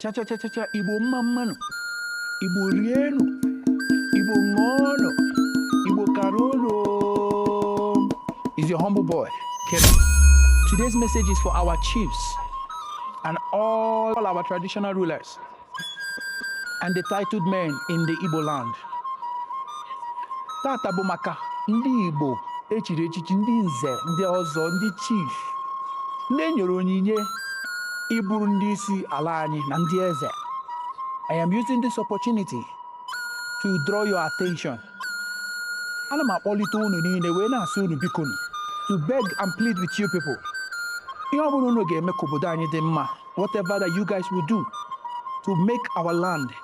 chachachachacha igbo mma mma nụ igbo rienụ igbo ṅụọnụ igbo kara ụlọ it's your humble boy Kevin. Today's message is for our chiefs and all our traditional rulers and the titled men in the Igbo land. tata bụ maka ndị Igbo e chiri echichi ndị nze ndị ọzọ ndị chief ndị e nyere onyinye ịbụrụ ndị isi ala anyị na ndị eze I am using this opportunity to draw your attention ana m akpọlite unu niile wee na-asị unu biko nụ to beg and plead with you people ihe ọ bụla unu ga-eme ka obodo anyị dị mma whatever that you guys will do to make our land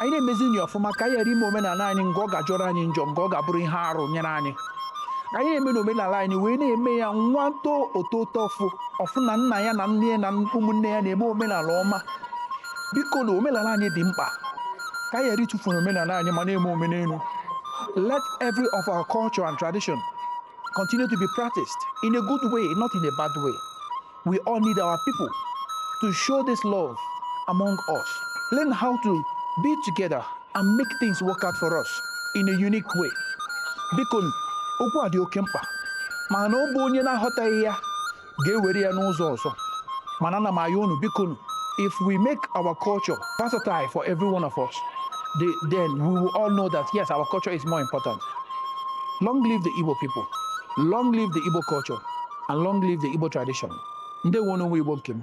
anyị na-emezinụ ọfụma ka anyị ghara ime omenala anyị nke ọ ga-ajọrọ anyị njọ nke ọ ga-abụrụ ihe arụ nyere anyị anyị na-eme na omenala anyị wee na-eme ya nwa too o too uto ọ fụ ọ fụ na nna ya na nne ya na ụmụnne ya na-eme omenala ọma biko na omenala anyị dị mkpa ka anyị ghara ịtụfu omenala anyị ma na-eme omenelu let every of our culture and tradition continue to be practiced in a good way not in a bad way We all need our people to show this love among us. Learn how to be together and make things work out for us in a unique way. Biko nụ okwu a dị oke mkpa mana ọ bụ onye na-aghọtaghị ya ga-ewere ya n'ụzọ ọzọ mana ana m ayọ unu biko nụ if we make our culture versatile for every one of us the, then we will all know that yes our culture is more important long live the Igbo people long live the Igbo culture and long live the Igbo tradition. Ndewo nụ nwa Igbo nke m.